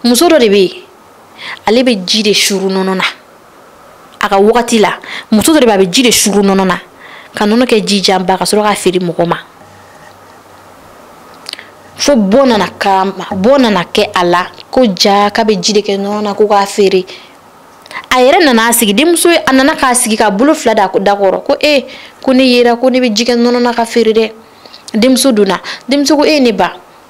muso dɔ de bɛ ale bɛ ji de suru nɔnɔ na a ka wagati la muso dɔ de bɛ a bɛ ji de suru nɔnɔ na ka nɔnɔ kɛ ji janba ka sɔrɔ k'a feere mɔgɔ ma fo bɔ nana kalama bɔ nana kɛ a la ko jaa k'a bɛ ji de kɛ nɔnɔ na ko k'a feere a yɛrɛ nana a sigi denmuso ye a nana k'a sigi k'a bolo fila da da kɔrɔ ko e ko ne yera ko ne bɛ ji kɛ nɔnɔ na k'a feere dɛ denmuso donna denmuso ko e ne ba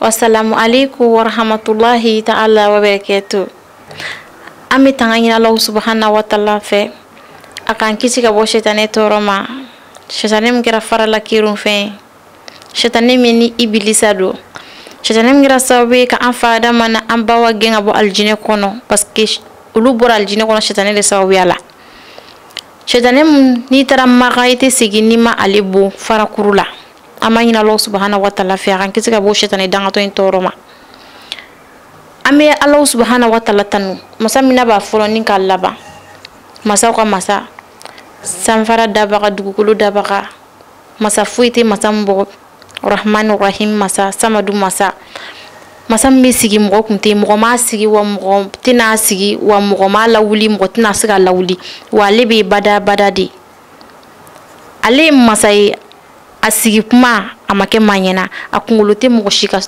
Wassalamu alaikum wa rahmatullahi ta'ala wa barakatuh. An bɛ tanga ɲini Alahu subahana wa taala fɛ a k'an kisi ka bɔ sitane tɔɔrɔ ma sitane min kɛra fara la kɛrun fɛn ye sitane min ni ibilisa don sitane min kɛra sababu ye ka an fa Adama ni an ba Awa gɛn ka bɔ alijinɛ kɔnɔ parce que olu bɔra alijinɛ kɔnɔ sitane de sababuya la sitane min n'i taara Maka i tɛ segin n'i ma ale bon farakuru la. an b'a ɲini alahu subahana wa taala fɛ a k'an kisi ka bɔ sitani dangatɔ in tɔɔrɔ ma an bɛ alahu subahana wa taala tanu masa min n'a b'a fɔlɔ ni k'a laban masaw ka masa sanfara dabaga dugukolo dabaga masa foyi tɛ masa min bɔ rahman rahim masa samadu masa masa min sigi mɔgɔ kun tɛ mɔgɔ m'a sigi wa mɔgɔ tɛna a sigi wa mɔgɔ m'a lawuli mɔgɔ tɛna se k'a lawuli wa ale bɛ bada bada de ale ye masa ye a sigi kuma a ma kɛ maa ɲɛna a kunkolo tɛ mɔgɔ si ka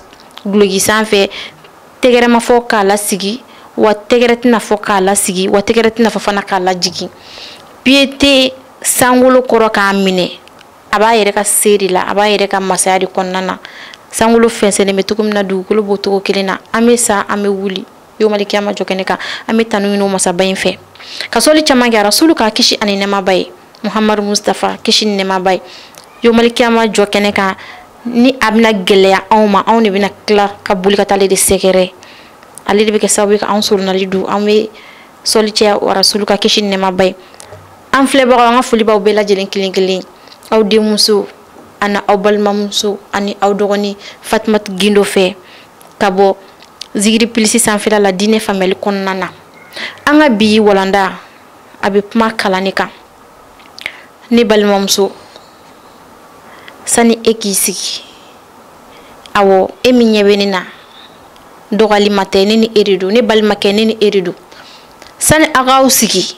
duloki sanfɛ tɛgɛrɛ ma fɔ k'a lasigi wa tɛgɛrɛ tɛna fɔ k'a lasigi wa tɛgɛrɛ tɛna fɔ fana k'a lajigin piye tɛ sankolo kɔrɔ k'a minɛ a b'a yɛrɛ ka se de la a b'a yɛrɛ ka masaya de kɔnɔna na sankolo fɛnsɛnnen bɛ cogo min na dugukolo b'o cogo kelen na an bɛ sa an bɛ wuli yomali kiyama jɔ kɛnɛ kan an bɛ tanu ɲini o masaba in fɛ ka sɔli caman kɛ rasulu kan kisi ani nɛɛma b'a ye muhamadu mustafa kisi ni nɛɛma b'a ye yomali kiyama jɔ kɛnɛ kan ni a bɛna gɛlɛya anw ma anw de bɛna tila ka boli ka taa ale de sɛgɛrɛ ale de bɛ kɛ sababu ye ka anw solonali don an bɛ sɔli caya rasulu kan kisi ni nɛɛma b'a ye an filɛbagaw an ka foli b'aw bɛɛ lajɛlen kelen kelen aw denmuso ani aw balimamuso ani aw dɔgɔnin fatumata gindo fɛ ka bɔ zigiri pilisi sanfɛla la diinɛ faamuyali kɔnɔna na an ka bi walanda a bɛ kuma kalan de kan ne balimamuso sani e k'i sigi awɔ e min ɲɛ bɛ ne na dɔ wɛrɛ ma tɛ ne ni e de don ne balimakɛ ne ni e de don sani a k'aw sigi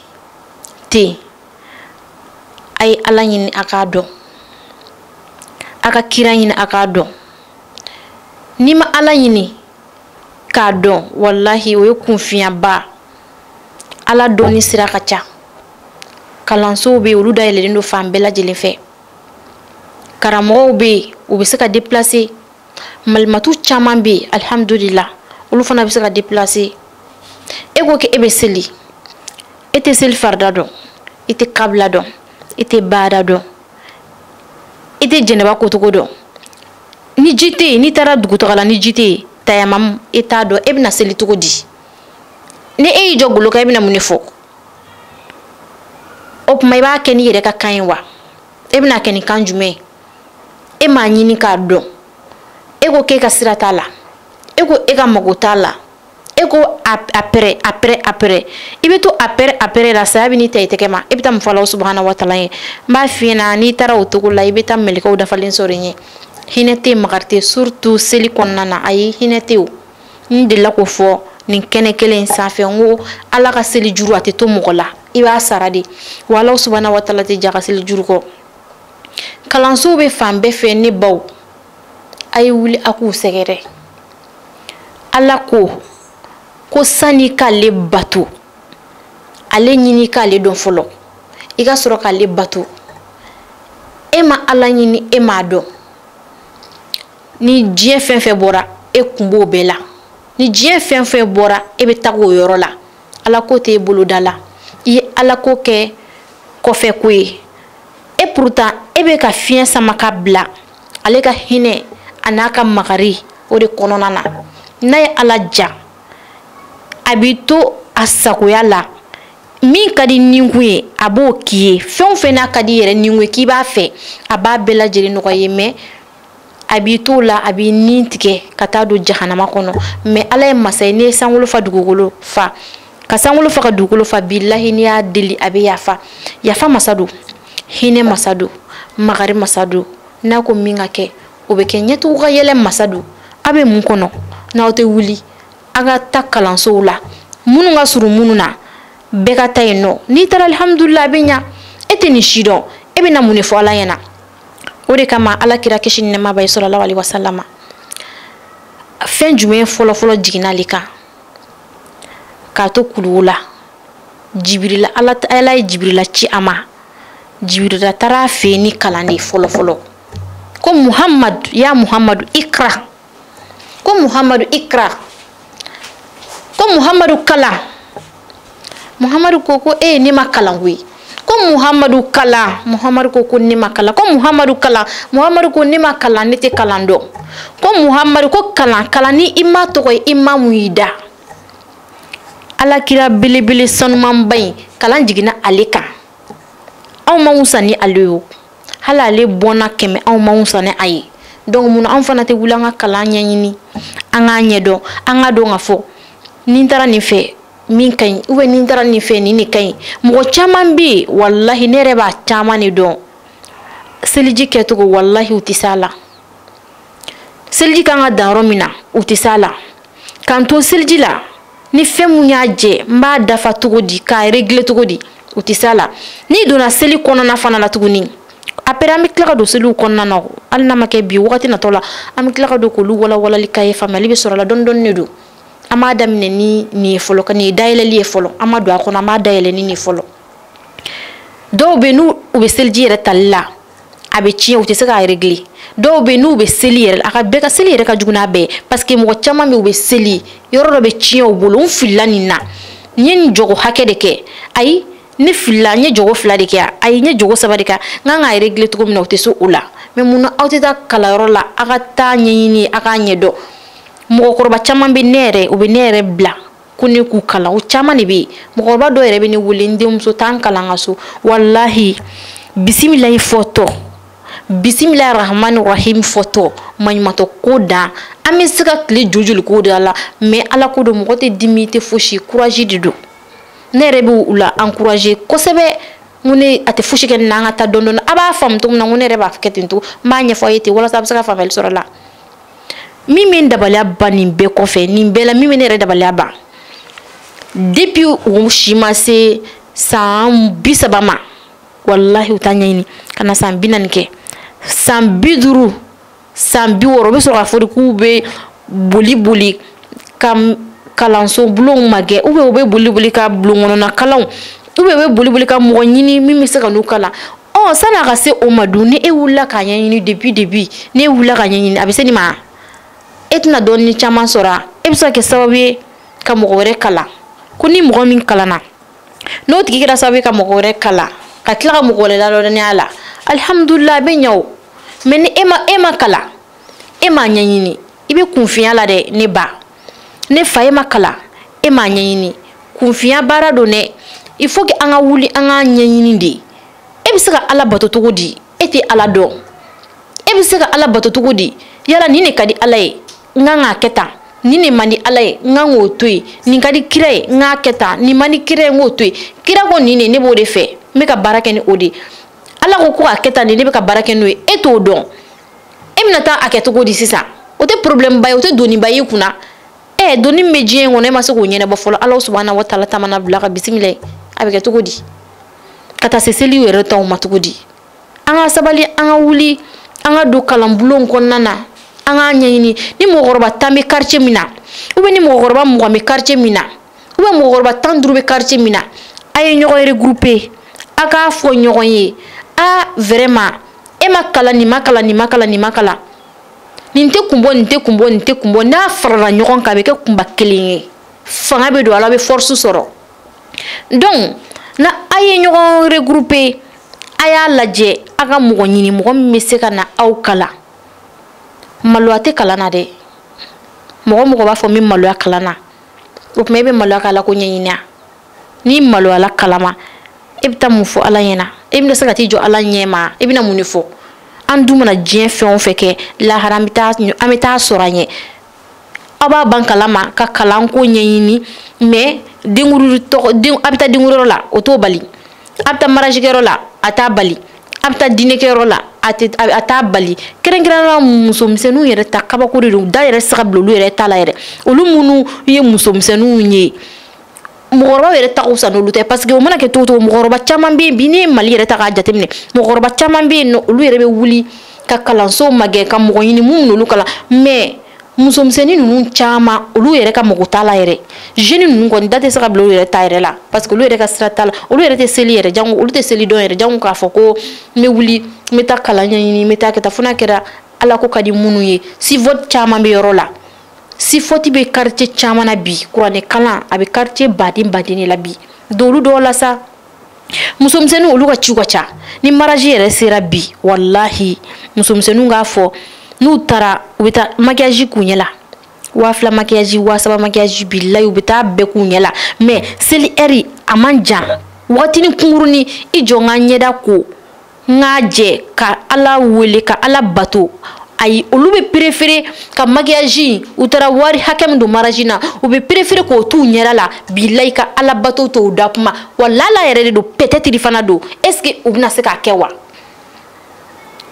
ten a ye ala ɲini a k'a dɔn a ka kira ɲini a k'a dɔn n'i ma ala ɲini k'a dɔn walahi o ye kunfinyaba ala dɔnni sira ka ca kalansow bɛ yen olu dayɛlɛlen don fan bɛɛ lajɛlen fɛ karamɔgɔw bɛ yen u bɛ se ka déplacer malimatu caman bɛ yen alihamudulila olu fana bɛ se ka déplacer e ko k'e bɛ seli e tɛ seli farida dɔn i tɛ kabila dɔn i tɛ baada dɔn i tɛ janaba kocogo dɔn ni ji tɛ yen n'i taara dugutaga la ni ji tɛ yen tayamamu i t'a dɔn e bɛna seli cogo di ni e y'i jɔ golo kan e bɛna mun de fɔ o tuma i b'a kɛ n'i yɛrɛ ka kan ye wa e bɛn'a kɛ ni kan jumɛn ye e m'a ɲini k'a dɔn e ko k'e ka sira t'a la e ko e ka mago t'a la e ko après après après i bɛ to après après la saya bɛ n'i ta i tɛgɛ ma i bɛ taa mun fɔ Alahu subahana wa taala ye n b'a f'i ɲɛna n'i taara o cogo la i bɛ taa mɛlɛkɛw dafalen sɔrɔ i ɲɛ hinɛ tɛ yen makari tɛ yen surtout seli kɔnɔna na ayi hinɛ tɛ yen o n delila k'o fɔ nin kɛnɛ kelen in sanfɛ n ko ala ka seli juru a tɛ to mɔgɔ la i b'a sara de wa Alahu subahana wa taala tɛ j'a ka seli juru kɔ kalansow bɛ fan bɛɛ fɛ ne baw a ye wuli a k'u sɛgɛrɛ ala ko ko sani k'ale bato ale ɲini k'ale dɔn fɔlɔ i ka sɔrɔ k'ale bato e ma ala ɲini e m'a dɔn ni diɲɛ fɛn fɛn bɔra e kun b'o bɛɛ la ni diɲɛ fɛn fɛn bɔra e bɛ taga o yɔrɔ la ala ko tɛ e boloda la i ye ala ko kɛ kɔfɛ ko ye e pourtant e bɛ ka fiɲɛ sama ka bila ale ka hinɛ a n'a ka makari o de kɔnɔna na n'a ye ala diya a b'i to a sagoya la min ka d'i ninkun ye a b'o k'i ye fɛn o fɛn n'a ka d'i yɛrɛ ninkun ye k'i b'a fɛ a b'a bɛɛ lajɛlen nɔgɔya i ye mais a b'i t'o la a b'i ni tigɛ ka taa don jahanama kɔnɔ mais ala ye masa ye n'i ye sankolo fa dugukolo fa ka sankolo fa ka dugukolo fa bilahi n'i y'a deli a bɛ yafa yafa masa don hinɛ masa don magari masa don n'a ko min ka kɛ o bɛ kɛ ɲɛtugu ka yɛlɛ masa don a bɛ mun kɔnɔ n'aw tɛ wuli a ka taa kalansow la minnu ka surun minnu na bɛɛ ka taa yen nɔ n'i taara alihamudulila a bɛ ɲa e tɛ nin si dɔn e bɛna mun de fɔ ala ɲɛna o de kama ala kira kisi ni nɛɛma b'a ye salalahu alayihi wasalama fɛn jumɛn fɔlɔfɔlɔ jiginna ale kan k'a to kuluwo la jibirila ala ala ye jibirila ci a ma jibirila taara a fɛ yen ni kalan de ye fɔlɔ fɔlɔ ko muhamadu ya muhamadu ikra ko muhamadu ikra ko muhamadu kalan muhamadu ko ko e ne ma kalan koyi ko muhamadu kalan muhamadu ko ko ne ma kalan ko muhamadu kalan muhamadu ko ne ma kalan ne tɛ kalan dɔn ko muhamadu ko kalan kalan ni i ma tɔgɔ ye i ma mun y'i da ala kira belebele sanumanba in kalan jiginna ale kan anw ma wusa ni ale ye hali ale bɔnna kɛmɛ anw ma wusa ni a ye donc mun na anw fana tɛ wuli an ka kalan ɲɛɲini an k'a ɲɛdɔn an k'a dɔn ka fɔ ni n taara nin fɛ min ka ɲi ou bien ni n taara nin fɛ nin de ka ɲi mɔgɔ caman bɛ yen walahi ne yɛrɛ b'a caman de dɔn seliji kɛcogo walahi u tɛ s'a la seliji kan ka dan yɔrɔ min na u tɛ s'a la k'an to seliji la ni fɛn mun y'a jɛ n b'a dafa cogo di k'a régler cogo di u tɛ s'a la n'i donna seli kɔnɔna fana la tuguni après an bɛ tila ka don seliw kɔnɔna na hali n'a ma kɛ bi wagati natɔ la an bɛ tila ka don k'olu walawalali k'a ye faamuyali bɛ sɔrɔ a la dɔɔni dɔɔni de don an b'a daminɛ ni nin ye fɔlɔ ka nin ye dayɛlɛli ye fɔlɔ an ma don a kɔnɔ an b'a dayɛlɛ ni nin fɔlɔ dɔw bɛ yen u bɛ seliji yɛrɛ tali la a bɛ tiɲɛ u tɛ se k'a régler dɔw bɛ yen u bɛ seli yɛrɛ a ka bɛɛ ka seli yɛrɛ ka jugu n'a bɛɛ ye parce que mɔgɔ caman bɛ yen u bɛ seli yɔrɔ dɔ bɛ tiɲɛ u bolo n filila nin na n ye nin jɔko hakɛ de kɛ ayi ne filila n ye jɔko fila de kɛ ayi n ye jɔko saba de kɛ n kan k'a régler cogo min na u tɛ se o la mais mun na aw tɛ taa kalanyɔrɔ la aw ka taa ɲɛɲini aw k'a ɲɛdɔn mɔgɔkɔrɔba caman bɛ ne yɛrɛ u bɛ ne yɛrɛ bila ko ne k'u kalan o caman de bɛ yen mɔgɔkɔrɔba dɔw yɛrɛ bɛ ne wele n denmuso t'an kalan ka so walahi bisimilayi fɔtɔ bisimilayi rahmani rahim fɔtɔ maɲumatɔ ko dan an bɛ se ka tile joli k'o de la mais ala ko don mɔgɔ tɛ dimi tɛ fosi courage de don ne yɛrɛ bɛ u la encourager kosɛbɛ ko ne a tɛ fosi kɛ nin na an ka taa dɔɔni dɔɔni a b'a faamu cogo min na ko ne yɛrɛ b'a kɛ ten to n b'a ɲɛfɔ a ye ten walasa a bɛ se ka faamuyali sɔrɔ a la min bɛ n dabaliya ban nin bɛɛ kɔfɛ nin bɛɛ la min bɛ ne yɛrɛ dabaliya ban depuis u si ma se san bi saba ma walahi u t'a ɲɛɲini ka na san bi naani kɛ san bi duuru san bi wɔɔrɔ u bɛ sɔrɔ k'a fɔ de k'u bɛ boli boli ka kalanso bulonw magɛn ou bien u bɛ boli boli ka bulon kɔnɔna kalanw ou bien u bɛ boli boli ka mɔgɔ ɲini min bɛ se ka n'u kalan ɔ sani a ka se o ma dun ni e wulila k'a ɲɛɲini depuis depuis ni e wulila k'a ɲɛɲini a bɛ se nin ma e tɛna dɔɔni caman sɔrɔ a e bɛ se ka kɛ sababu ye ka mɔgɔ wɛrɛ kalan ko ni mɔgɔ min kalanna n'o tigi kɛra sababu ye ka mɔgɔ wɛrɛ kalan ka tila ka mɔgɔ wɛrɛ ladɔnniya a la alihamudulila a bɛ ɲɛ o mais ni e ma kalan e m'a ɲɛɲini i bɛ kunfinya la dɛ ne ba ne fa e ma kalan e m'a ɲɛɲini kunfinya baara don dɛ il faut que an ka wuli an k'a ɲɛɲini de e bɛ se ka ala bato cogo di e tɛ ala dɔn e bɛ se ka ala bato cogo di yala nin de ka di ala ye n kan k'a kɛ tan nin de man di ala ye n kan k'o to yen nin ka di kira ye n k'a kɛ tan nin man di kira ye n k'o to yen kira ko nin de ne b'o de fɛ n bɛ ka baara kɛ ni o de ye ala ko ko k'a kɛ tan de ne bɛ ka baara kɛ n'o ye e t'o dɔn e bɛna taa a kɛ cogo di sisan o tɛ problème ba ye o tɛ doniba y'i kunna ɛ doni min bɛ diɲɛ in kɔnɔ e ma se k'o ɲɛnabɔ fɔlɔ ala subahana wa taala ta mana bila ka bisimila ye a bɛ kɛ cogo di ka taa se seliw yɛrɛ taw ma cogo di an ka sabali an ka wuli an ka don kalanbulon kɔnɔna na an k'a ɲɛɲini ni mɔgɔkɔrɔba tan bɛ quartier min na ou bien ni mɔgɔkɔrɔba mugan bɛ quartier min na ou bien mɔgɔkɔrɔba tan duuru bɛ quartier min na a ye ɲɔgɔn regrouper a k'a fɔ ɲɔgɔn ye a vraiment e ma kalan nin ma kalan nin ma kalan nin ma kalan nin tɛ kun bɔ nin tɛ kun bɔ nin tɛ kun bɔ n'a farala ɲɔgɔn kan a bɛ kɛ kunba kelen ye fanga bɛ don a la a bɛ force sɔrɔ donc na a ye ɲɔgɔn regrouper a y'a lajɛ a ka mɔgɔ ɲini mɔgɔ min bɛ se ka na aw kalan maloya tɛ kalan na dɛ mɔgɔ o mɔgɔ b'a fɔ n bɛ maloya kalan na o tuma e bɛ maloya ka ala ko ɲɛɲini a n'i maloyala kalan ma i bɛ taa mun fɔ ala ɲɛ na i bɛna se ka t'i jɔ ala ɲɛ ma i bɛna mun de fɔ an dun mana diɲɛ fɛn o fɛn kɛ lahara an bɛ taa sɔrɔ an ɲɛ a b'a ban kalan ma ka kalanko ɲɛɲini mais a bɛ taa denkundi la o t'o bali a bɛ taa mariage kɛyɔrɔ la a t'a bali a bɛ taa dîner kɛyɔrɔ la a tɛ a t'a bali kɛrɛnkɛrɛnnenya musomisɛnninw yɛrɛ ta kabako de don da yɛrɛ tɛ se ka bila olu yɛrɛ ta la yɛrɛ olu minnu ye musomisɛnninw ye mɔgɔkɔrɔbaw yɛrɛ ta ka fisa n'olu ta ye parce que o mana kɛ cogo o cogo mɔgɔkɔrɔba caman bɛ yen bi n'i ye mali yɛrɛ ta k'a jateminɛ mɔgɔkɔrɔba caman bɛ yen nɔ olu yɛrɛ bɛ wuli ka kalanso magɛn ka mɔgɔ ɲini minnu n'olu kalan mais musomisɛnnin ninnu caman olu yɛrɛ ka mago t'a la yɛrɛ jeune ninnu kɔni da tɛ se ka bila olu yɛrɛ ta yɛrɛ la parce que olu yɛrɛ ka sira t'a la olu yɛrɛ tɛ seli yɛrɛ jango olu tɛ seli dɔn yɛrɛ jango k'a fɔ ko n bɛ wuli n bɛ taa kalan ɲɛɲini n bɛ taa kɛ tan fo n'a kɛra ala ko ka di minnu ye si vote caman bɛ yɔrɔ la sifɔti bɛ quartier caman na bi kuranɛ kalan a bɛ quartier baden baden de la bi dolu dɔw la sa musomisɛnninw olu ka ciw ka ca ni mariage yɛrɛ sera bi walahi musomisɛnninw k'a fɔ n'u taara u bɛ taa maquillage k'u ɲɛ la waa fila maquillage waa saba maquillage bilayi u bɛ taa bɛɛ k'u ɲɛ la mais seli heure a man jan wagatinin kunkurunin i jɔ n ka ɲɛda ko n k'a jɛ ka ala wele ka ala bato ayi olu bɛ perefere ka makiyaji u taara wari hakɛ min don maraji na u bɛ perefere k'o t'u ɲɛda la bilayi ka ala bato to u da kuma wa lala yɛrɛ de don pɛtɛtiri fana don ɛseke u bɛna se k'a kɛ wa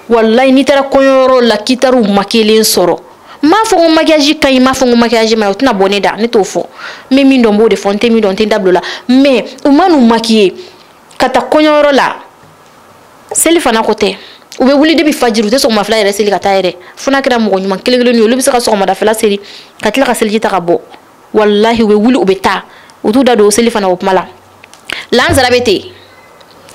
walayi n'i taara kɔɲɔyɔrɔ la k'i taara u makiyelen sɔrɔ n m'a fɔ ko makiyaji ka ɲi n m'a fɔ ko makiyaji ma ɲi o tɛna bɔ ne da ne t'o fɔ n bɛ min dɔn n b'o de fɔ n tɛ min dɔn n tɛ n da bila o la mɛ u ma n'u makiye ka taa kɔɲɔyɔrɔ la seli fana ko tɛ u bɛ wuli depi fajiri u tɛ sɔgɔma fila yɛrɛ seli ka taa yɛrɛ fo n'a kɛra mɔgɔ ɲuman kelen kelen ye olu bɛ se ka sɔgɔmada fila seli ka tila ka seliji ta ka bɔ walahi u bɛ wuli u bɛ taa u t'u da don o selifana o kuma la lansara bɛ ten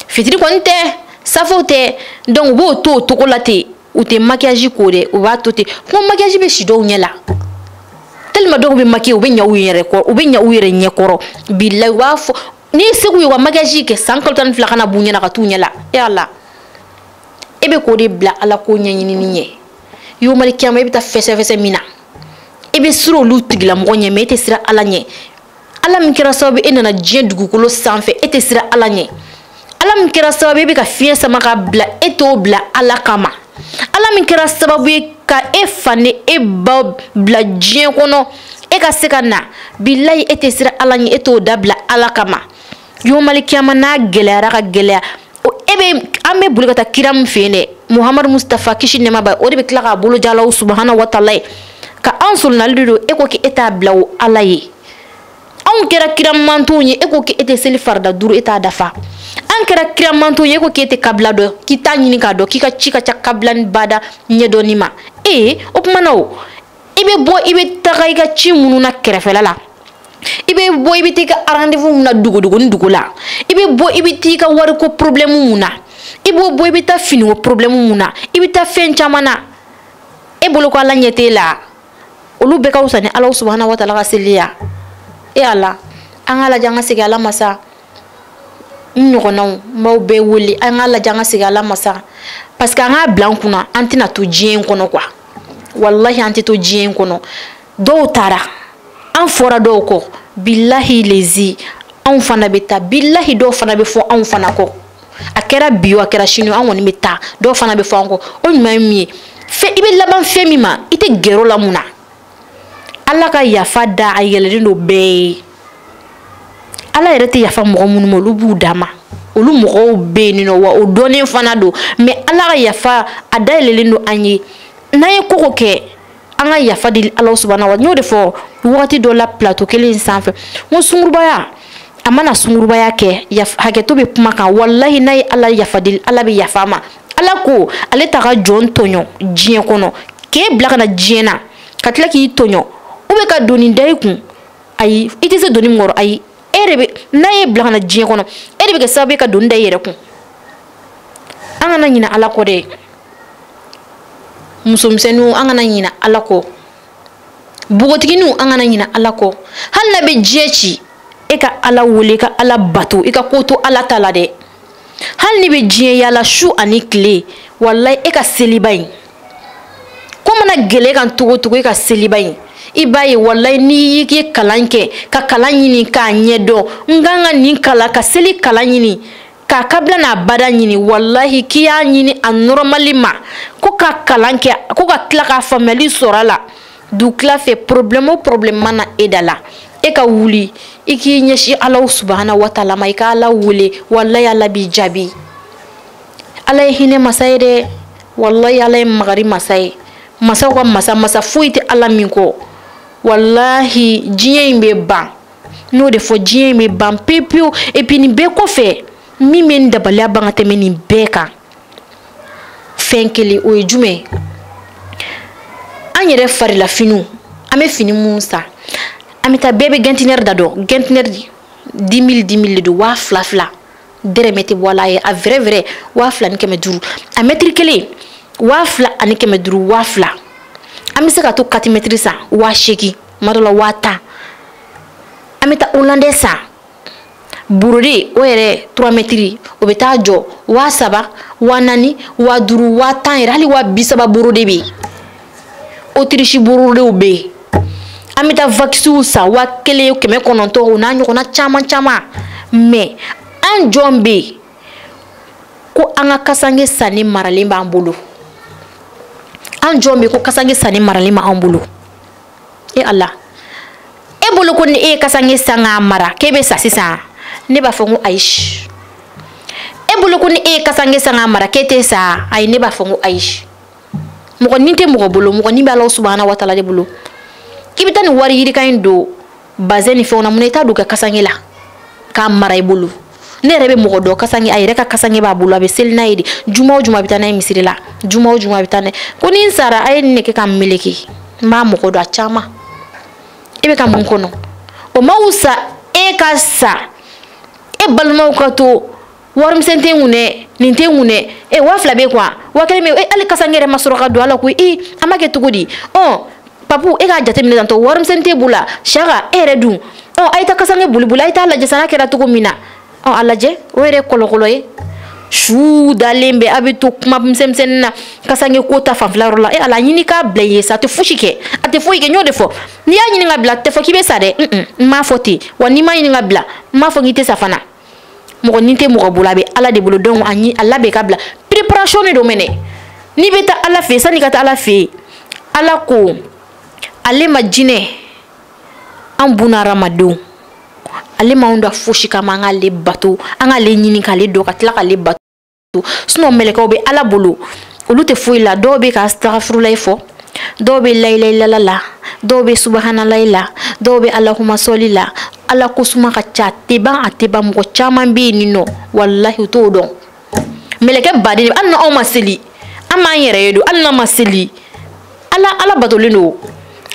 fitiri kɔni tɛ safo tɛ donc u b'o to o cogo la ten u tɛ makiyaji ko dɛ u b'a to ten ko makiyaji bɛ si dɔw ɲɛ la tellement dɔw bɛ makiye u bɛ ɲa u yɛrɛ kɔrɔ u bɛ ɲa u yɛrɛ ɲɛ kɔrɔ bilayi u b'a fɔ n'i ye se k'u ye u ka makiyaji kɛ san kalo tan ni fila kana b'u ɲɛ na ka t'u ɲɛ la e ala e bɛ k'o de bila ala ko ɲɛɲinini ɲɛ yomali kiyama i bɛ taa fɛsɛfɛsɛ min na i bɛ siran olu tigilamɔgɔ ɲɛ mɛ e tɛ siran ala ɲɛ ala min kɛra sababu ye e nana diɲɛ dugukolo sanfɛ e tɛ siran ala ɲɛ ala min kɛra sababu e bɛ ka fiɲɛ sama ka bila e t'o bila ala kama ala min kɛra sababu ye ka e fa ni e ba bila diɲɛ kɔnɔ e ka se ka na bilayi e tɛ siran ala ɲɛ e t'o dabila ala kama yomali kiyama n'a gɛlɛyara ka gɛlɛya e bɛ an bɛ boli ka taa kira min fɛ yen dɛ muhamadu mustafa kisi nɛɛma b'a ye o de bɛ tila k'a bolo ja alahu subahana wataala ye ka an solonali de don e ko k'e t'a bila o ala ye anw kɛra kira mantonw ye e ko k'e tɛ seli farida duuru e t'a dafa an kɛra kira mantonw ye e ko k'e tɛ kabila dɔn k'i t'a ɲini k'a dɔn k'i ka ci ka ca kabila ni bada ɲɛdɔnni ma ee o tuma na o i bɛ bɔ i bɛ taga i ka ci minnu na kɛrɛfɛla la i bɛ bɔ i bɛ t'i ka rendez-vous mun na dugu dugu ni dugu la i bɛ bɔ i bɛ t'i ka wariko problème mun na i bɛ bɔ i bɛ taa finiko problème mun na i bɛ taa fɛn caman na e bolo ko ala ɲɛ t'e la olu bɛɛ ka wusa ni ala subahana wataala ka seli ya e ala an k'a lajɛ an ka segin ala ma sa n ɲɔgɔnnaw n b'aw bɛɛ wele an k'a lajɛ an ka segin ala ma sa parce que an k'a bila an kunna an tɛna to diɲɛ in kɔnɔ kuwa walahi an tɛ to diɲɛ in kɔnɔ dɔw taara an fɔra dɔw kɔ bilahi lezi anw fana bɛ taa bilahi dɔw fana bɛ fɔ anw fana kɔ a kɛra bi o a kɛra sini an kɔni bɛ taa dɔw fana bɛ fɔ an kɔ o ɲuman ye min ye fɛn i bɛ laban fɛn min ma i tɛ gɛrɛ o la mun na ala ka yafa da a yɛlɛlen don bɛɛ ye ala yɛrɛ tɛ yafa mɔgɔ minnu ma olu b'u dama olu mɔgɔw bɛ yen nɔ wa o dɔnnen fana don mɛ ala ka yafa a da yɛlɛlen don an ye n'an ye ko o ko kɛ an ka yafa deli ala subahana wataala n y'o de fɔ wagati dɔ la plateau kelen sanfɛ n ko sungurubaya a mana sungurubaya kɛ hakɛto bɛ kuma kan walahi n'a ye ala yafa deli ala bɛ yafa ma ala ko ale t'a ka jɔn tɔɲɔ diɲɛ kɔnɔ k'e bila ka na diɲɛ na ka tila k'i tɔɲɔ ou bien ka doni da i kun ayi i tɛ se doni min kɔrɔ ayi e de bɛ n'a y'e bila ka na diɲɛ kɔnɔ e de bɛ kɛ sababu ye ka doni da i yɛrɛ kun an kana ɲinɛ ala kɔ dɛ musomisɛnninw an kana ɲinɛ ala kɔ npogotigininw an kana ɲinɛ ala kɔ hali n'a bɛ diɲɛ ci e ka ala wele i ka ala bato i ka ko to ala ta la dɛ hali n'i bɛ diɲɛ yaala su ani tile walayi e ka seliba in ko mana gɛlɛ kan cogo cogo e ka seliba in i b'a ye walayi n'i y'i ye kalan kɛ ka kalan ɲini k'a ɲɛdɔn n kan ka nin kalan ka seli kalan ɲini k'a kabila n'a bada ɲini walahi k'i y'a ɲini a nɔrɔmali ma ko ka kalan kɛ ko ka tila ka faamuyali sɔrɔ a la dugutila fɛ porobilɛmu o porobilɛmu mana e da la e ka wuli i k'i ɲɛsin alahu subahana wataala ma i ka ala wele walayi ala b'i jaabi ala ye hinɛ masa ye dɛ walayi ala ye makari masa ye masaw ka masa masa foyi tɛ ala min kɔ walahi diɲɛ in bɛ ban n y'o de fɔ diɲɛ in bɛ ban pewu pewu epi nin bɛɛ kɔfɛ min bɛ n dabaliya ban ka tɛmɛ nin bɛɛ kan fɛn kelen o ye jumɛn ye an yɛrɛ farilafiniw an bɛ fini minnu san an bɛ taa bɛɛ bɛ gɛntinɛri da dɔn gɛntinɛri dix mille dix mille de don waa fila fila dɛrɛmɛ tɛ bɔ a la a ye a vrɛ vrɛ waa fila ni kɛmɛ duuru a mɛtiri kelen waa fila ani kɛmɛ duuru waa fila an bɛ se ka to quatre mɛtiri san waa seegin tuma dɔ la waa tan an bɛ taa olandɛ san borode o yɛrɛ trois mɛtiri o bɛ taa jɔ waa saba waa naani waa duuru waa tan yɛrɛ hali waa bi saba borode bɛ yen otirisi borodew bɛ yen an bɛ taa vakisiw san waa kelen kɛmɛ kɔnɔntɔn o n'a ɲɔgɔnna caman caman mɛ an jɔn bɛ yen ko an ka kasange sannen maralen b'an bolo an jɔn bɛ yen ko kasange sannen maralen b'an bolo. e ala e bolo ko ni e ye kasange san k'a mara k'e bɛ sa sisan ne b'a fɔ n ko ayi e bolo ko ni e ye kasange san k'a mara k'e tɛ sa ayi ne b'a fɔ n ko ayi mɔgɔ ni tɛ mɔgɔ bolo mɔgɔ ni bɛ ala subahana wataala de bolo k'i bɛ taa nin wari yirika in don bazɛn ni fɛnw na mun na i t'a don ka kasange la k'a mara i bolo ne yɛrɛ bɛ mɔgɔ dɔn kasange a yɛrɛ ka kasange b'a bolo a bɛ seli n'a ye de juma o juma a bɛ taa n'a ye misiri la juma o juma a bɛ taa n'a ye ko ni n sara a ye nin de kɛ ka n meleke n b'a mɔgɔ dɔn a caman e bɛ ka mun kɔnɔ o ma wusa e ka sa e balimaw ka to warimisɛn tɛ n kun dɛ nin tɛ n kun dɛ e waa fila bɛ i kun wa waa kelen bɛ e hali kasange yɛrɛ ma sɔrɔ ka don a la koyi i an b'a kɛ cogo di ɔ papu e k'a jateminɛ tantɔ warimisɛn tɛ bolo sanko e yɛrɛ dun ɔ a ye taa kasange boliboli a ye taa lajɛ sa n'a kɛra cogo min na ɔ a lajɛ o yɛrɛ ye kɔlɔkɔlɔ ye su dalen bɛ a bɛ to kuma misɛnmisɛnnin na kasange ko ta fanfɛla yɔrɔ la e ala ɲini k'a bila yen sa a tɛ fosi kɛ a tɛ foyi kɛ n y'o de fɔ n'i y'a ɲini k'a bila a tɛ fɔ k'i bɛ sa dɛ n m'a fɔ ten wa n'i m'a ɲini k'a bila n m'a fɔ k'i tɛ sa fana mɔgɔ ni tɛ mɔgɔ bolo a bɛ ala de bolo donc a ɲini a labɛn k'a bila préparation de don mɛnɛ n'i bɛ taa ala fɛ yen sanni ka taa ala fɛ yen ala ko ale ma jinɛ ani bunadamadenw ale m'anw da fosi kama an k'ale bato an k'ale ɲini k'ale dɔn ka tila k'ale bato sinon mɛlɛkɛw bɛ ala bolo olu tɛ foyi la dɔw bɛ ka asitagafurulayi fɔ dɔw bɛ layilayilala la dɔw bɛ subahanalayi la dɔw bɛ alahumasɔli la ala ko suma ka ca tɛ ban a tɛ ban mɔgɔ caman bɛ yen nin nɔ walahi u t'o dɔn mɛlɛkɛ baden hali n'an ma seli an b'an yɛrɛ ye don hali n'an ma seli ala ala batolen don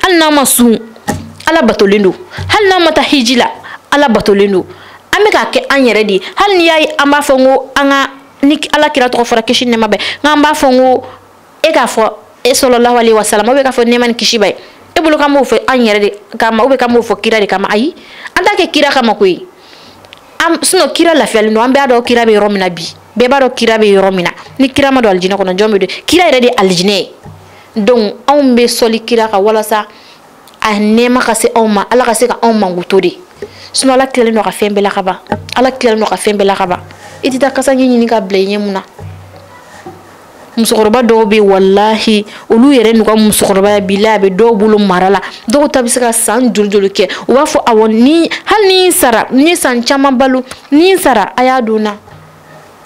hali n'an ma sun ala batolen don hali n'an ma taa hiji la ala batolen don an bɛ k'a kɛ an yɛrɛ de ye hali n'i y'a ye an b'a fɔ n ko an ka ni ala kira tɔgɔ fɔra kisi ni nɛma b'a ye n k'an b'a fɔ n ko e k'a fɔ e salalahu alayhi wa salam ou bien k'a fɔ nɛma ni kisi b'a ye e bolo k'an b'o fɔ an yɛrɛ de kama ou bien k'an b'o fɔ kira de kama ayi an t'a kɛ kira kama koyi sinon kira lafiyalen don an bɛ a dɔn kira bɛ yɔrɔ min na bi bɛɛ b'a dɔn kira bɛ yɔrɔ min na ni kira ma don alijinɛ kɔnɔ jɔn bɛ don kira yɛrɛ de ye alijinɛ ye donc anw bɛ sɔli kira kan walasa a nɛɛma ka se anw ma ala ka se ka anw mankuto de sinon ala tilalen don ka fɛn bɛɛ la ka ban ala tilalen don ka fɛn bɛɛ la ka ban i tɛ taa kasange ɲini k'a bila i ɲɛ mun na musokɔrɔba dɔw bɛ walahi olu yɛrɛ n'u ka musokɔrɔbaya bɛɛ la a bɛ dɔw bolo mara la dɔw ta bɛ se ka san joli joli kɛ u b'a fɔ awɔ ni hali ni n sara ni san caman balo ni n sara a y'a don na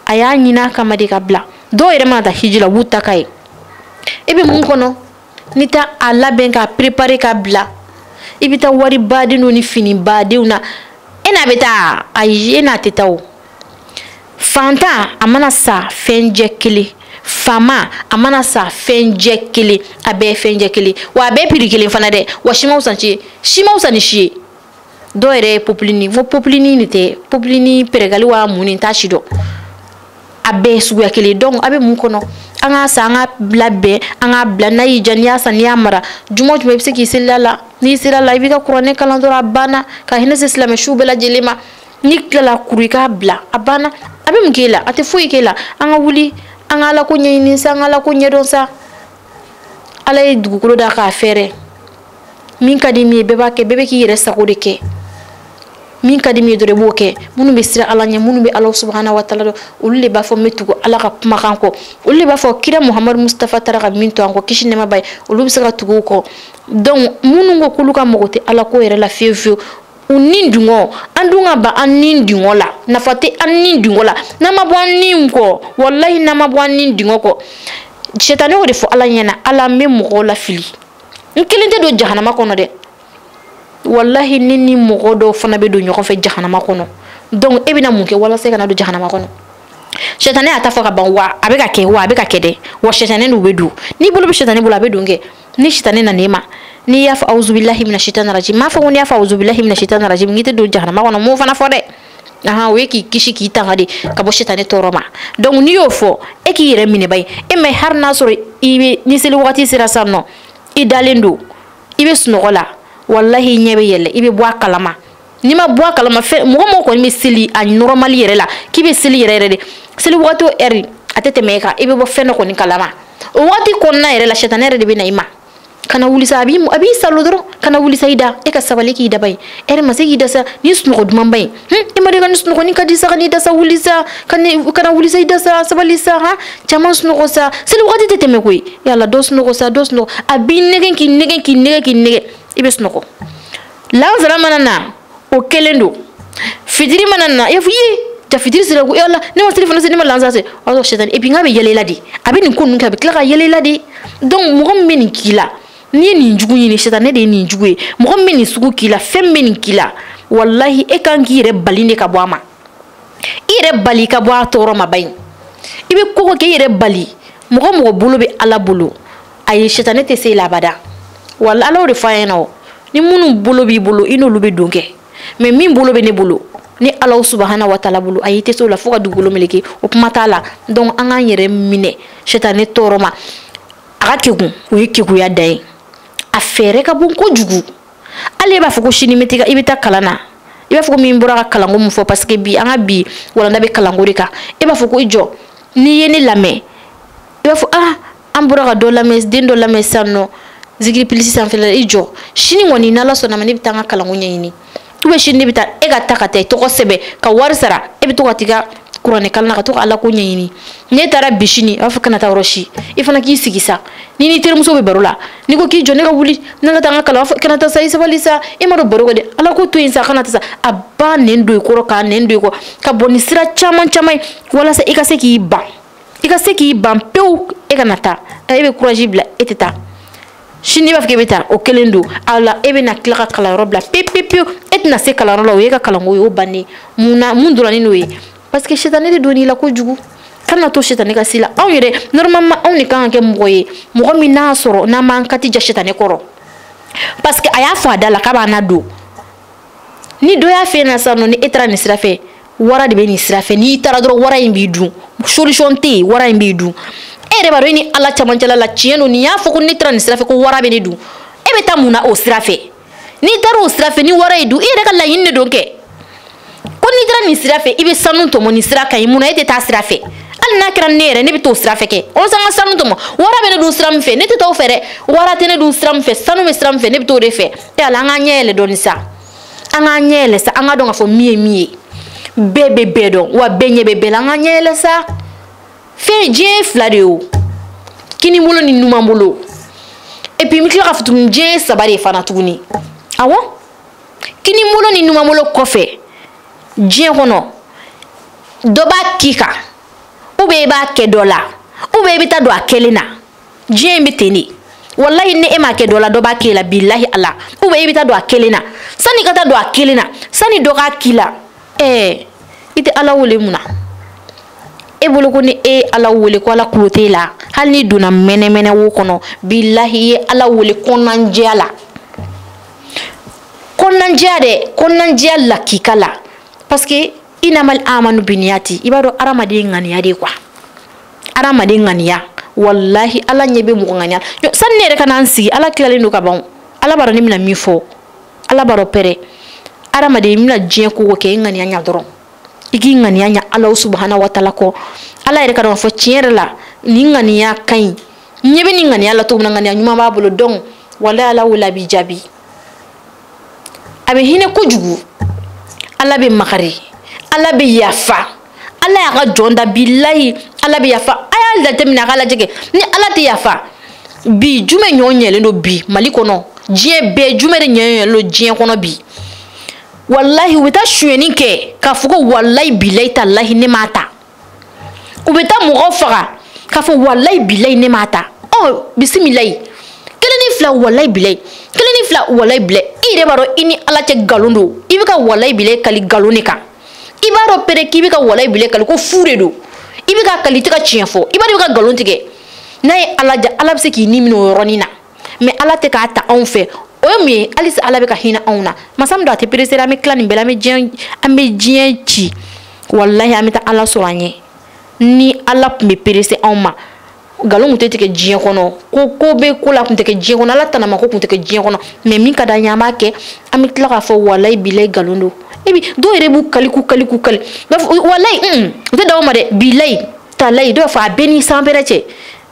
a y'a ɲini a kama de k'a bila dɔw yɛrɛ mana taa hiji la u b'u ta ka ye e bɛ mun kɔnɔ n'i tɛ a labɛn k'a préparer k'a bila i bɛ taa wari baden don ni fini badenw na e n'a bɛ taa ayi e n'a tɛ taa o. fantan a mana sa fɛnjɛ kelen faama a mana sa fɛnjɛ kelen a bɛɛ ye fɛnjɛ kelen wa a bɛɛ piri kelen fana dɛ wa si man wusa ni si si man wusa ni si ye dɔw yɛrɛ ye popilini ko popilini de tɛ popilini pɛrɛgali wa mun ne t'a si dɔn a bɛɛ ye suguya kelen donc a bɛ mun kɔnɔ an k'a san an k'a bila bɛn an k'a bila n'a y'i ja n'i y'a san n'i y'a mara juma o juma i bɛ se k'i seli a la n'i selila a la i b'i ka kuranɛ kalan dɔrɔn a banna ka hinɛ se silamɛ suw bɛɛ lajɛlen ma n'i tilala a kuru i k'a bila a banna a bɛ mun k'e la a tɛ foyi k'e la an ka wuli an ka ala ko ɲɛɲini sa an ka ala ko ɲɛdɔn sa ala ye dugukolo da k'a fɛrɛ min ka di min ye bɛɛ b'a kɛ bɛɛ bɛ k'i yɛrɛ sago de kɛ min ka di min ye dɔrɔn i b'o kɛ minnu bɛ siran ala ɲɛ minnu bɛ ala subahana wa taala dɔn olu de b'a fɔ n bɛ tugu ala ka kumakan kɔ olu de b'a fɔ kira muhamadu mustafa taara ka min to an kɔ kisi nɛɛma b'a ye olu bɛ se ka tugu o kɔ donc minnu ko k'olu ka mago tɛ ala ko yɛrɛ la fiyewu fiyewu u ni dungɔ an dun ka ban an ni dungɔ la nafa tɛ an ni dungɔ la n'an ma bɔ an ni kɔ walayi n'an ma bɔ an ni dungɔ kɔ sɛtani y'o de fɔ ala ɲɛna ala n bɛ mɔgɔw lafili n kelen tɛ don jahanama kɔnɔ dɛ walahi ne ni mɔgɔ dɔw fana bɛ don ɲɔgɔn fɛ jahanama kɔnɔ donc e bɛna mun kɛ walasa i kana don jahanama kɔnɔ sɛtani y'a ta fɔ ka ban wa a bɛ k'a kɛ wa a bɛ k'a kɛ dɛ wa sɛtani n'u bɛ don n'i bolo bɛ sɛtani bolo a bɛ don kɛ ni sitani nana e ma n'i y'a fɔ awuzubilahi mina sitani rajim n m'a fɔ ko n'i y'a fɔ awuzubilahi mina sitani rajim k'i tɛ don jahanama kɔnɔ n m'o fana fɔ dɛ ahan o ye k'i kisi k'i tanga de ka bɔ sitani tɔɔrɔ ma donc n'i y'o fɔ e k'i yɛrɛ minɛ bayi e ma hali n'a sɔrɔ i bɛ ni seli wagati sera sisan nɔ i dalen don i bɛ sunɔgɔ la walahi i ɲɛ bɛ yɛlɛ i bɛ bɔ a kalama n'i ma bɔ a kalama fɛn mɔgɔ o mɔgɔ kɔni bɛ seli a nɔrɔmali yɛrɛ la k'i bɛ seli yɛrɛ yɛrɛ de seli wagati o ɛri a tɛ tɛmɛ e kan i bɛ bɔ fɛn dɔ kɔni kalama o wagati kɔnɔna yɛrɛ la sɛtani yɛrɛ de bɛ na i ma kana wuli sa a b'i saalo dɔrɔn kana wuli sa i da e ka sabali k'i da bayi ɛri ma se k'i da sa nin sunɔgɔ dumanba ye hun i ma deli ka nin sunɔgɔ nin ka di sa ka n'i da sa wuli sa kana wuli sa i da sa sabali sa han caman sunɔgɔ sa seli wagati tɛ tɛmɛ koyi yala dɔ sunɔgɔ sa dɔ sunɔgɔ a b'i nɛgɛn k'i nɛgɛn k'i nɛgɛn k'i nɛgɛn i bɛ sunɔgɔ lansara mana na o kelen don fitiri mana na i y'a fɔ ye jaa fitiri sera ko yala ne ma selifana seli ne ma lansara seli o y'a sɔrɔ sɛtani epi n k'a bɛ yɛlɛ i la de a bɛ nin ko ninnu kɛ a bɛ tila ka yɛlɛ i la de donc mɔgɔ min bɛ nin k'i la n'i ye nin jugu ɲini sɛtani de ye nin jugu ye mɔgɔ min bɛ nin sugu k'i la fɛn min bɛ nin k'i la walahi e kan k'i yɛrɛ bali de ka bɔ a ma i yɛrɛ bali ka bɔ a tɔɔrɔ ma bayi i bɛ ko o ko kɛ i yɛrɛ bali mɔgɔ o mɔgɔ bolo bɛ ala bolo ayi sitani tɛ se i la abada wa ala y'o de fɔ an ɲɛna o ni minnu bolo b'i bolo i n'olu bɛ don kɛ mais min bolo bɛ ne bolo ni ala subahana wa taala bolo ayi i tɛ se o la fo ka dugukolo meleke o kuma t'a la donc an k'an yɛrɛ minɛ sitani tɔɔrɔ ma a ka kegun o ye keguya dan ye a fɛɛrɛ ka bon kojugu hali e b'a fɔ ko sini i bɛ taa kalan na i b'a fɔ ko min bɔra ka kalanko min fɔ parce que bi an ka bi walanda bɛ kalanko de kan e b'a fɔ ko i jɔ n'i ye ne lamɛn i b'a fɔ ah an bɔra ka dɔ lamɛn den dɔ lamɛn sisan nɔ zikiri plus sanfɛ la i jɔ sini kɔni n'ala sɔnn'a ma ne bɛ taa n ka kalanko ɲɛɲini ou bien sini ne bɛ taa e ka taa ka taa i tɔgɔ sɛbɛn ka wari sara e bɛ to ka t'i ka kuranɛ kalan na ka to ka ala ko ɲɛɲini n'e taara bi sini a b'a fɔ kana taa yɔrɔ si i fana k'i sigi sa n'i n'i terimuso bɛ baro la n'i ko k'i jɔ ne ka wuli ne ka taa n ka kalan fɔ kana taa sa i sabali sa e m'a dɔn baro kɛ dɛ ala ko to yen sa kana taa sa a b'a nɛn don i kɔrɔ k'a nɛn don i kɔ ka bɔ ni sira caman caman ye walasa i ka se k'i ban i ka se k'i ban pewu e kana taa e bɛ courage bila e tɛ taa sini i b'a fɔ k'e bɛ taa o kelen don a la e bɛna tila ka kalanyɔrɔ bila pepepewu e tɛna se kalanyɔrɔ la o y'e ka kalanko ye o bannen mun na mun dɔrɔn ni n'o ye parce que sitanɛ de donn'i la kojugu kan'a to sitanɛ ka s'i la anw yɛrɛ normalement anw de kan ka kɛ mɔgɔ ye mɔgɔ min n'a sɔrɔ n'an b'an kati ja sitanɛ kɔrɔ parce que a y'a fɔ a da la k'a b'a na don ni dɔ y'a f'e ɲɛna sisan nɔ ni e taara nin sira fɛ wara de bɛ nin sira fɛ n'i taara dɔrɔn wara in b'i dun solution tɛ yen wara in b'i dun e yɛrɛ b'a dɔn e ni ala camancɛla la tiɲɛ don nin y'a fɔ ko ne taara nin sira fɛ ko wara bɛ ne dun e bɛ taa mun na o sira fɛ n'i taara o sira fɛ ni wara y'i dun i yɛrɛ ka laɲini de don kɛ ko n'i taara nin sira fɛ i bɛ sanu tɔmɔ nin sira ka ɲi mun na e tɛ taa sira fɛ hali n'a kɛra ne yɛrɛ ne bɛ t'o sira fɛ kɛ walasa n ka sanu tɔmɔ wara bɛ ne dun sira min fɛ ne tɛ taa o fɛ dɛ wara tɛ ne dun sira min fɛ sanu bɛ sira min fɛ ne bɛ t'o de fɛ e ala an k'an ɲɛ yɛlɛ dɔɔni sa an k'an ɲɛ yɛlɛ sa an k'a dɔn k'a fɔ min ye min ye bɛɛ bɛ bɛɛ dɔn wa bɛɛ ɲɛ bɛ bɛɛ la an k'an ɲɛ yɛlɛ sa fɛn diɲɛ ye fila de ye o kinibolo ni numanbolo et puis n bɛ tila ka fɔ tuguni diɲɛ ye saba de ye fana tuguni awɔ kinibolo ni numanbolo kɔfɛ diɲɛ kɔnɔ dɔ b'a k'i kan ou bien i b'a kɛ dɔ la ou bien i bɛ taa don a kɛlen na. diɲɛ in bɛ ten de walayi ni e m'a kɛ dɔ la dɔ b'a k'e la bilahi ala ou bien i bɛ taa don a kɛlen na sani i ka taa don a kɛlen na sani dɔ k'a k'i la ɛɛ i tɛ ala wele mun na e bolo ko ni e ye ala wele ko ala kulo t'e la hali n'i donna mɛnɛmɛnɛ wo kɔnɔ bilahi i ye ala wele kɔnɔnanjɛya la kɔnɔnanjɛya dɛ kɔnɔnanjɛya lakika la parce que inamal amalu biniyati i b'a dɔn hadamaden ŋaniya de quoi adamaden ŋaniya walahi ala ɲɛ bɛ mɔgɔ ŋaniya la sani ne yɛrɛ ka na n sigi ala tilalen don ka ban ala b'a dɔn ne bɛna min fɔ ala b'a dɔn pɛrɛ adamaden i bɛna diɲɛ ko o ko kɛ i ŋaniya ɲa dɔrɔn i k'i ŋaniya ɲa ala subahana wa taala kɔ ala yɛrɛ k'a dɔn k'a fɔ tiɲɛ yɛrɛ la nin ŋaniya ka ɲi ɲɛ bɛ nin ŋaniya la cogo min na ŋaniya ɲuman b'a bolo donc walahi ala wele a b'i jaabi a bɛ hinɛ kojugu ala bɛ makari ala bɛ yafa ala y'a ka jɔn da bilayi ala bɛ yafa a y'a jateminɛ a k'a lajɛ kɛ ni ala tɛ yafa bi jumɛn ɲɔ ɲɛlen don bi mali kɔnɔ diɲɛ bɛɛ jumɛn de ɲɛ ɲɛlen don diɲɛ kɔnɔ bi walahi u bɛ taa sonyɛni kɛ k'a fɔ ko walayi bilayi talahi ne m'a ta u bɛ taa mɔgɔ faga k'a fɔ walayi bilayi ne m'a ta ɔ bisimilayi kelen ni fila walayi bilayi kelen ni fila walayi bilayi i yɛrɛ b'a dɔn i ni ala cɛ nkalon don i bɛ ka walayi bilayi kali nkalon de kan i b'a dɔn pere k'i bɛ ka walayi bilayi kali ko fu de don i bɛ ka kali i tɛ ka tiɲɛ fɔ i b'a dɔn i bɛ ka nkalon tigɛ n'a ye ala diya ala bɛ se k'i ni minɛ o yɔrɔnin na mɛ ala tɛ k'a ta anw fɛ o ye mun ye halisa ala bɛ ka hinɛ anw na masa min don a tɛ peresera an bɛ tila nin bɛɛ la an bɛ diɲɛ an bɛ diɲɛ ci walahi an bɛ taa ala sɔrɔ an ɲɛ ni ala tun bɛ perese anw ma nkalon tun tɛ tigɛ diɲɛ kɔnɔ ko ko bɛ ko la tun tɛ kɛ diɲɛ kɔnɔ ala tanama ko tun tɛ kɛ diɲɛ kɔnɔ mɛ min ka d'an ye an b'a kɛ an bɛ tila k'a fɔ walayi bilayi nkalon don e bi dɔw yɛrɛ b'u kali k'u kali k'u kali b'a fɔ walayi u tɛ dan o ma dɛ bilayi talayi dɔw b'a fɔ a bɛ n ni sanpɛrɛn cɛ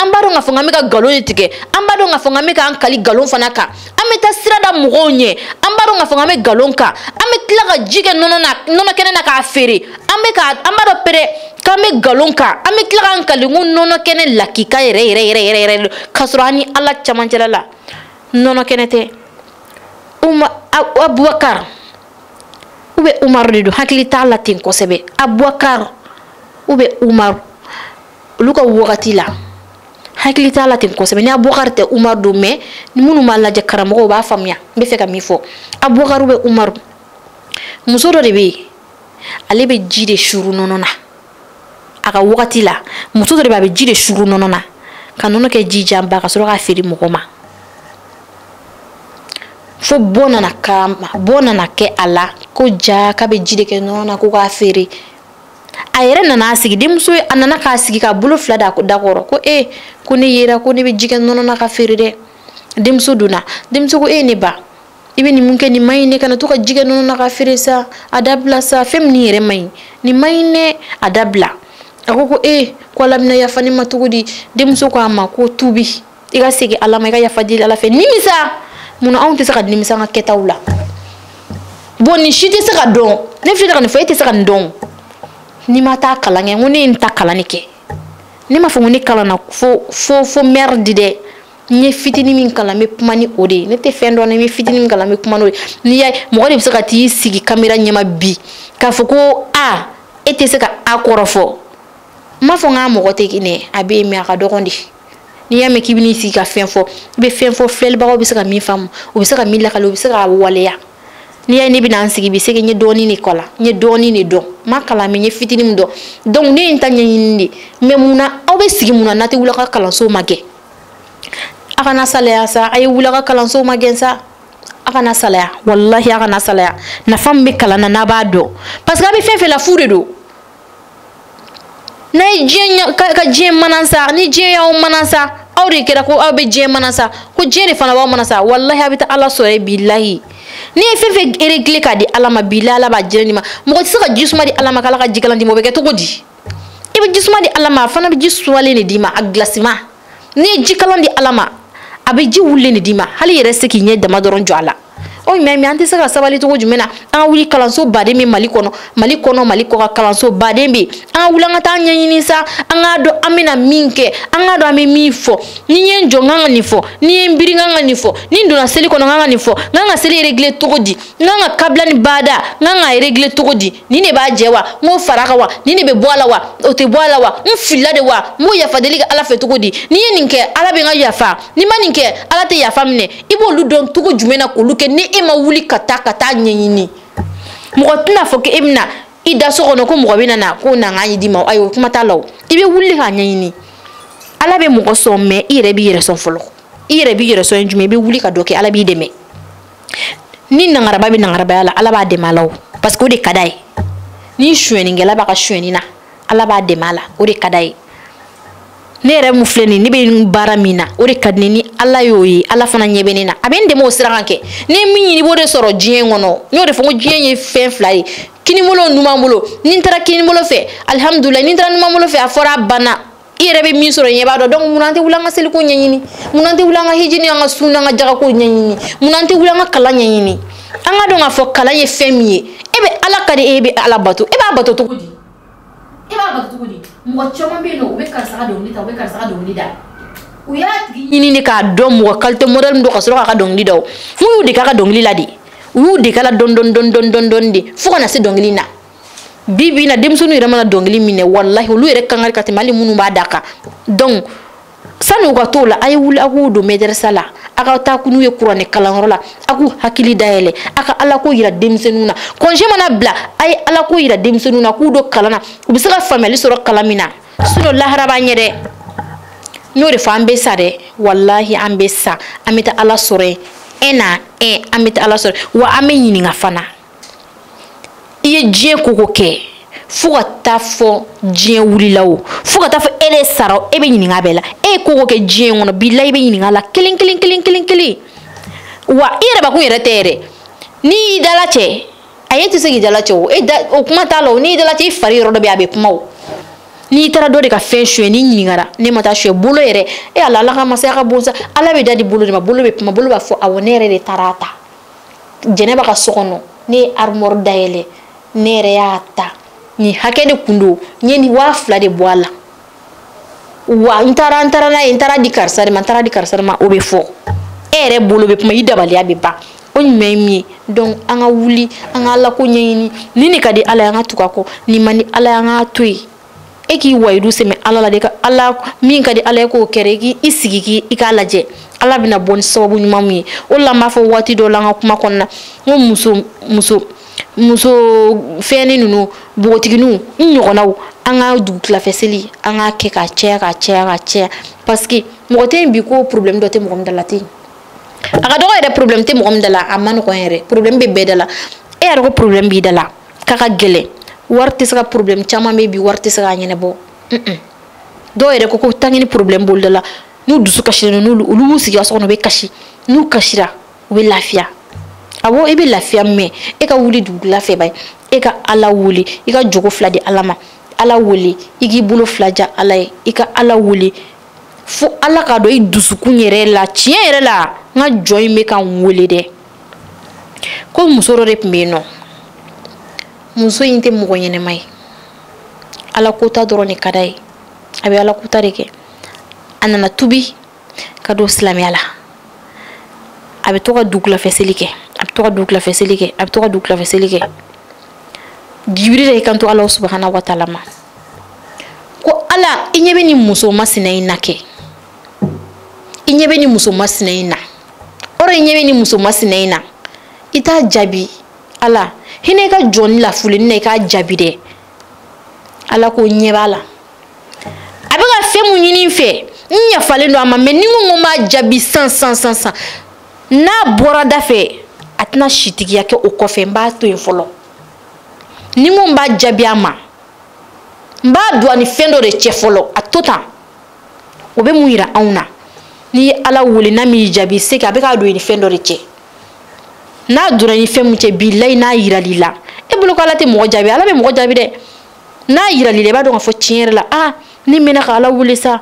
an b'a dɔn k'a fɔ k'an bɛ ka nkalon de tigɛ an b'a dɔn k'a fɔ k'an bɛ k'an kali nkalon fana kan an bɛ taa sira da mɔgɔw ɲɛ an b'a dɔn k'a fɔ k'an bɛ nkalon kan an bɛ tila ka ji kɛ nɔnɔ na nɔnɔ kɛnɛ na k'a feere an bɛ ka an b'a dɔn pere k'an bɛ nkalon kan an bɛ tila k'an kali ko nɔnɔ kɛnɛ lakika yɛrɛ yɛrɛ yɛrɛ yɛrɛ yɛrɛ k'a sɔrɔ an ni ala camancɛla la nɔnɔ kɛnɛ tɛ uma abubakar ou bien umaru de don n hakili t'a la ten kosɛbɛ abubakar ou bien umaru olu ka wagati la hakili t'a la ten kosɛbɛ ni abubakari tɛ umaru don mɛ ni minnu b'a lajɛ karamɔgɔw b'a faamuya n bɛ fɛ ka min fɔ abubakari ou bien umaru muso dɔ de bɛ yen ale bɛ ji de suuru nɔnɔ na a ka wagati la muso dɔ de bɛ a bɛ ji de suuru nɔnɔ na ka nɔnɔ kɛ ji janba ka sɔrɔ k'a feere mɔgɔ ma fo bɔ nana k'a ma bɔ nana kɛ a la ko jaa k'a bɛ ji de kɛ nɔnɔ na ko k'a feere a yɛrɛ nana a sigi denmuso a nana k'a sigi k'a bolo fila da a da kɔrɔ ko e ko ne yera ko ne bɛ ji kɛ nɔnɔ na k'a feere dɛ denmuso donna denmuso ko e ne ba i bɛ nin mun kɛ nin man ɲi dɛ kana to ka ji kɛ nɔnɔ na k'a feere sa a dabila sa fɛn nin yɛrɛ man ɲi nin man ɲi dɛ a dabila a ko ko e ko ala bɛna yafa ne ma cogo di denmuso ko a ma ko tubi i ka segin ala ma i ka yafa deli ala fɛ nimisa mun na anw tɛ se ka nimisa an ka kɛtaw la bon nin si tɛ se ka dɔn ne filɛ ka nin fɔ e tɛ se ka nin dɔn n'i ma taa kalan kɛ n ko ne ye nin ta kalan de kɛ ne m'a fɔ ko ne kalanna fo fo fo merde dɛ n ye fitinin min kalan n bɛ kuma ni o de ye ne tɛ fɛn dɔn n bɛ fitinin min kalan n bɛ kuma n'o ye n'i y'a ye mɔgɔ de bɛ se ka t'i sigi kamera ɲɛma bi k'a fɔ ko a e tɛ se ka a kɔrɔ fɔ n m'a fɔ n k'a mɔgɔ tɛ kɛnɛ a bɛ yen mais a ka dɔgɔn de n'i y'a mɛn k'i bɛn'i sigi ka fɛn fɔ i bɛ fɛn fɔ filɛlibagaw bɛ se ka min faamu u bɛ se ka min lakali u bɛ se k'a waleya n'i y'a ye ne bɛna n sigi bi c'est que n ye dɔɔnin de kalan n ye dɔɔnin de dɔn n ma kalan mais n ye fitinin min dɔn donc ne ye n ta ɲɛɲini de mais mun na aw bɛ sigi mun na n'a tɛ wuli a ka kalanso magɛn a kana salaya sa a ye wuli a ka kalanso magɛn sa a kana salaya walahi a kana salaya nafa min bɛ kalan na n'a b'a dɔn parce que a bɛ fɛn fɛn la fu de don n'a ye diɲɛ ka ka diɲɛ manasa ni diɲɛ y'aw manasa aw de kɛra ko aw bɛ diɲɛ manasa ko diɲɛ de fana b'aw manasa walahi a bɛ taa ala sɔrɔ yen bilahi n'i ye fɛn fɛn regle k'a di ala ma bilahi ala b'a diɲɛ d'i ma mɔgɔ tɛ se ka ji suma di ala ma k'ala ka jikalan d'i ma o bɛ kɛ cogo di i bɛ ji suma di ala ma a fana bɛ ji sumalen de d'i ma a gilasima n'i ye jikalan di ala ma a bɛ ji wulilen de d'i ma hali i yɛrɛ tɛ se k'i ɲɛ dama dɔrɔn jɔ a la o tuma mun an tɛ se ka sabali cogo jumɛn na an ka wuli kalanso baden bɛ mali kɔnɔ mali kɔnɔ mali kɔkan kalanso baden bɛ an ka wuli an ka taa ɲɛɲini sa an k'a dɔn an bɛna min kɛ an k'a dɔn an bɛ min fɔ ni n ye n jɔ n kan ka nin fɔ ni n ye n biri n kan ka nin fɔ ni n donna seli kɔnɔ n kan ka nin fɔ n kan ka seli regle cogo di n kan ka kabila ni baada n kan k'a regle cogo di nin de b'a jɛ wa n b'o fara a kan wa nin de bɛ bɔ a la wa o tɛ bɔ a la wa n filila de wa n b'o yafa deli kɛ ala fɛ cogo di n'i ye nin kɛ ala bɛ n ka yafa n'i ma nin kɛ ala tɛ yafa minɛ i b'olu dɔn cogo jumɛn na k'olu kɛ ni e ma wuli ka taa ka taa ɲɛɲini mɔgɔ tɛn'a fɔ k'e bɛna i da so kɔnɔ ko mɔgɔ bɛna na ko na n k'a d'i ma ayi o kuma t'a la o i bɛ wuli k'a ɲɛɲini ala bɛ mɔgɔ sɔn mais i yɛrɛ b'i yɛrɛ sɔn fɔlɔ i yɛrɛ b'i yɛrɛ sɔn ye jumɛn i bɛ wuli ka dɔ kɛ ala b'i dɛmɛ ni nangaraba bɛ nangarabaya la ala b'a dɛmɛ a la o parce que o de ka d'a ye ni suɲɛnikɛla b'a ka suɲɛni na ala b'a dɛmɛ a la o de ka d'a ye ne yɛrɛ min filɛ nin ne bɛ baara min na o de ka di n ye ni ala y'o ye ala fana ɲɛ bɛ ne na a bɛ n dɛmɛ o sira kan kɛ n'e ye min ɲini i b'o de sɔrɔ diɲɛ kɔnɔ n y'o de fɔ ko diɲɛ ye fɛn fila ye kinibolo numan bolo ni n taara kinibolo fɛ alihamudulilahi ni n taara numan bolo fɛ a fɔra a banna i yɛrɛ bɛ min sɔrɔ e b'a dɔn donc mun na an tɛ wuli an ka seliko ɲɛɲini mun na an tɛ wuli an ka hiji ni an ka sun n'an ka jagako ɲɛɲini mun na an tɛ wuli an ka kalan ɲɛɲini an k'a dɔn k'a fɔ kalan ye fɛn min ye e bɛ ala ka di e bɛ ala bato e b'a bato cogo di e b'a bato cogo di mɔgɔ caman bɛ yen nɔ u bɛ karisa ka dɔnkili ta u bɛ karisa ka dɔnkili da u y'a tigi ɲini de k'a dɔn mɔgɔ kalite modɛli min don ka sɔrɔ k'a ka dɔnkili da o n'u y'u dege a ka dɔnkili la de u y'u dege a la dɔɔni dɔɔni dɔɔni dɔɔni dɔɔni de fo ka na se dɔnkili na bi bi na denmisɛnninw yɛrɛ mana dɔnkili minɛ walahi olu yɛrɛ kan ka di ka tɛmɛ hali minnu b'a da kan donc sani u ka t'o la a ye wuli a k'u don mɛdɛrɛsa la a ka taa n'u ye kuranɛ kalanyɔrɔ la a k'u hakili dayɛlɛ a ka alako yira denmisɛnninw na congé mana bila a ye alako yira denmisɛnninw na k'u don kalan na u bɛ se ka faamuyali sɔrɔ kalan min na sinon lahara b'an ɲɛ dɛ n y'o de fɔ an bɛ sa dɛ walahi an bɛ sa an bɛ taa ala sɔrɔ yen un na un an bɛ taa ala sɔrɔ wa an bɛ ɲininka fana i ye diɲɛ ko o ko kɛ fo ka taa fɔ diɲɛ wulila o fo ka taa fɔ e de sara o e bɛ ɲininka bɛɛ la e ye ko o ko kɛ diɲɛ kɔnɔ bilahi i bɛ ɲininka la kelen kelen kelen kelen kelen wa i yɛrɛ bakun yɛrɛ tɛ yɛrɛ n'i y'i dalacɛ a ye tɛ se k'i dalacɛ o e da o kuma t'a la o n'i y'i dalacɛ i fari yɔrɔ dɔ bɛ yen a bɛ kuma o n'i taara dɔ de ka fɛn suɲɛ n'i ɲininkara ne ma taa suɲɛ bolo yɛrɛ e ala ala ka masaya ka bon sa ala bɛ da di bolo de ma bolo bɛ kuma bolo b'a fɔ awɔ ne yɛrɛ de taara a ta jɛnɛba ka so kɔnɔ ne ye armoire dayɛlɛ ne yɛrɛ y'a ta nin hakɛ de kun don n ye nin waa fila de bɔ a la wa n taara n taara n'a ye n taara di karisa de ma n taara di karisa de ma o bɛ fɔ e yɛrɛ bolo bɛ kuma i dabaliya bɛ ban o ɲuman ye min ye donc an ka wuli an ka ala ko ɲɛɲini ni nin ka di ala ye an ka tugu a kɔ nin man di ala ye an k'a to yen e k'i wayidu sɛmɛ ala la de ka ala min ka di ala ye k'o kɛra i k'i sigi k'i i k'a lajɛ ala bɛna bɔ ni sababu ɲuman min ye o la n b'a fɔ waati dɔ la an ka kuma kɔnɔna n ko muso muso muso fɛnni ninnu npogotiginiw n ɲɔgɔnnaw an ka dugutilafɛ seli an k'a kɛ ka caya ka caya ka caya parce que mɔgɔ tɛ yen bi ko problème dɔ tɛ mɔgɔ min da la tɛ yen a ka dɔgɔ yɛrɛ problème tɛ mɔgɔ min da la a man nɔgɔn yɛrɛ problème bɛ bɛɛ da la e yɛrɛ ko problème b'i da la k'a ka gɛlɛn wari tɛ se ka problème caman bɛ bi wari tɛ se k'a ɲɛnabɔ dɔw yɛrɛ ko ko tangini problème b'olu da la n'u dusu kasilen don n'olu olu b'u sigi ka so kɔnɔ u bɛ kasi n'u kasira u bɛ lafiya awɔ i bɛ lafiya mais e ka wuli dugula fɛ ba ye e ka ala wele i ka jɔko fila di ala ma ala wele i k'i bolo fila ja ala ye i ka ala wele fo ala k'a dɔn i dusukun yɛrɛ la tiɲɛ yɛrɛ la n ka jɔn in bɛ ka n wele dɛ ko muso dɔ de tun bɛ yen nɔ muso in tɛ mɔgɔ ɲɛnɛma ye ala kota dɔrɔn de ka d'a ye a bɛ ala kota de kɛ a nana tubi ka don silamɛya la a bɛ to ka dugulafɛ seli kɛ a bɛ to ka dugulafɛ seli kɛ a bɛ to ka dugulafɛ seli kɛ jibiri de y'i kanto ala subahana wa taala ma ko ala i ɲɛ bɛ nin muso masina in na kɛ i ɲɛ bɛ nin muso masina in na ɔrɔ i ɲɛ bɛ nin muso masina in na i t'a jaabi ala hinɛ i ka jɔnnin lafulen in na i k'a jaabi dɛ ala ko n ɲɛ b'a la a bɛ ka fɛn mun ɲini n fɛ n yafalen don a ma mais ni n ko n ko n b'a jaabi san san san san n'a bɔra da fɛ a tɛna sitigiya kɛ o kɔfɛ n b'a to yen fɔlɔ ni n ko n b'a jaabi a ma n b'a don a ni fɛn dɔ de cɛ fɔlɔ a to tan o bɛ mun yira anw na n'i ye ala wele n'a m'i jaabi c'est que a bɛ k'a don i ni fɛn dɔ de cɛ n'a donna ni fɛn mun cɛ bilayi n'a yiral'i la e bolo ko ala tɛ mɔgɔ jaabi ala bɛ mɔgɔ jaabi dɛ n'a yiral'i la i b'a dɔn k'a fɔ tiɲɛ yɛrɛ la aa ne mɛna ka ala wele sa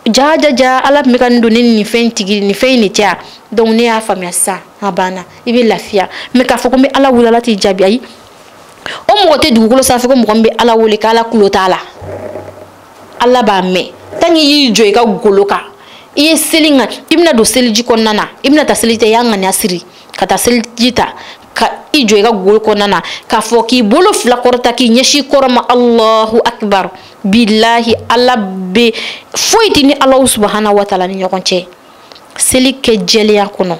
ja ja ja ala tun bɛ ka nin don ne ni nin fɛn tigi nin fɛn in de cɛ donc ne y'a faamuya sisan a banna i bɛ lafiya mais k'a fɔ ko n bɛ ala wele ala t'i jaabi ayi o mɔgɔ tɛ dugukolo sanfɛ ko mɔgɔ min bɛ ala wele k'ala kulo t'a la ala b'a mɛn tant que i y'i jɔ i ka golo kan i ye seli ŋa i bɛna don seliji kɔnɔna na i bɛna taa seliji ta i y'a ŋaniya siri ka taa seliji ta ka i jɔ i ka golo kɔnɔna na k'a fɔ k'i bolo fila kɔrɔta k'i ɲɛsin kɔrɔn ma alahu akibar bilahi ala bɛ foyi t'i ni alahu subahana wataala ni ɲɔgɔn cɛ seli kɛ jɛlenya kɔnɔ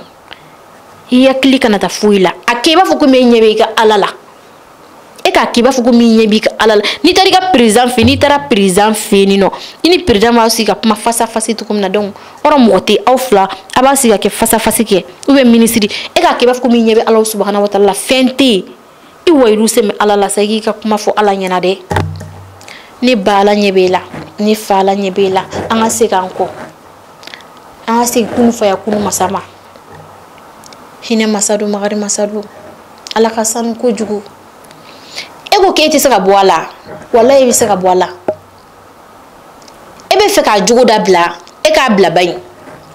i hakili kana taa foyi la a kɛ i b'a fɔ komi e ɲɛ bɛ i ka ala la e k'a k'i b'a fɔ komi i ɲɛ b'i ka ala la n'i taara i ka président fɛ n'i taara président fɛ yen nɔ i ni président b'aw sigi ka kuma face à face cogo min na donc yɔrɔ mɔgɔ tɛ aw fila a b'a sigi ka kɛ face à face kɛ ou bien minisiri e k'a kɛ i b'a fɔ komi i ɲɛ bɛ ala subahana wa taala la fɛn tɛ yen i wayiru sɛmɛ ala la sa i k'i ka kuma fɔ ala ɲɛna dɛ ne ba ala ɲɛ b'e la ne fa ala ɲɛ b'e la an ka segin an kɔ an ka segin kunu faya kunu masa ma hinɛ masa don magari masa don ala ka sanu kojugu e ko k'e tɛ se ka bɔ a la walayi i bɛ se ka bɔ a la e bɛ fɛ k'a jogo dabila e k'a bila bani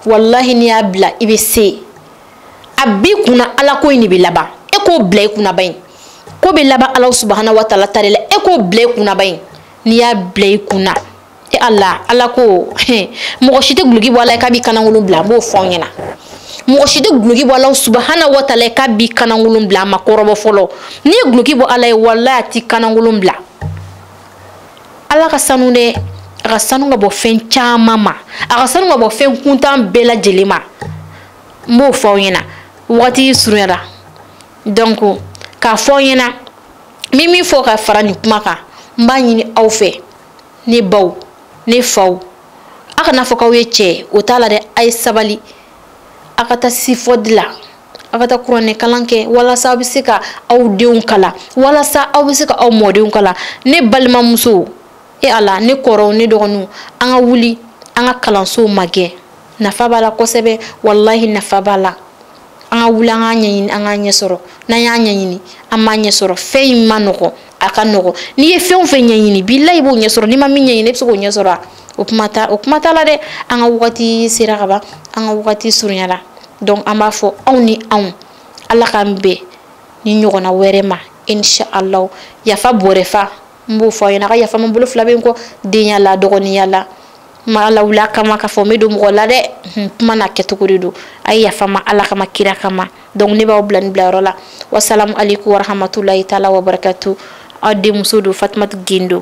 walahi n'i y'a bila i bɛ se a b'i kunna ala ko in de bɛ laban e k'o bila i kunna bani ko bɛ laban ala subahana wa taala ta de la e k'o bila i kunna bani n'i y'a bila i kunna. e ala ala ko mɔgɔ si tɛ guloki bɔ ala ye k'a b'i kanankolon bila n b'o fɔ aw ɲɛna mɔgɔ si tɛ guloki bɔ ala ye subahana wa taala ye k'a b'i kanankolon bila a ma kɔrɔbɔ fɔlɔ n'i ye guloki bɔ ala ye walayi a t'i kanankolon bila ala ka sanu dɛ a ka sanu ka bɔ fɛn caman ma a ka sanu ka bɔ fɛn kuntan bɛɛ lajɛlen ma n b'o fɔ aw ɲɛna wagati surunyara donc k'a fɔ aw ɲɛna n bɛ min fɔ ka fara nin kuma kan n b'a ɲini aw fɛ ne baw ne faw a kana fɔ k'aw ye cɛ o t'a la dɛ a ye sabali a ka taa sifɔdi la a ka taa kuranɛ kalan kɛ walasa aw bɛ se ka aw denw kalan walasa aw bɛ se ka aw mɔdenw kalan ne balimamusow e ala ne kɔrɔw ne dɔgɔninw an ka wuli an ka kalansow magɛn nafa b'a la kosɛbɛ walahi nafa b'a la an ka wuli an k'a ɲɛɲini an k'a ɲɛ sɔrɔ n'an y'a ɲɛɲini an b'a ɲɛ sɔrɔ fɛn in man nɔgɔn a ka nɔgɔn n'i ye fɛn o fɛn ɲɛɲini bilayi i b'o ɲɛ sɔrɔ n'i ma min ɲɛɲini i bɛ se k'o ɲɛ sɔrɔ o kuma t'a la dɛ an ka wagati sera ka ban an ka wagati surunyara donc an b'a fɔ aw ni anw ala k'an bɛn nin ɲɔgɔnna wɛrɛ ma inshallah yafa bɔrɛ fa n b'o fɔ aw ɲɛna a ka yafa n ma n bolo fila bɛ n kɔ denya la dɔgɔninya la m'a lawuli a kama k'a fɔ n bɛ don mɔgɔ la dɛ kuma n'a kɛcogo de don a ye yafa n ma ala kama kira kama donc ne b'aw bila nin bilayɔrɔ la wasalamu aleykum warahamatulayi taala wabarakatu aw denmuso don fatumatu gindo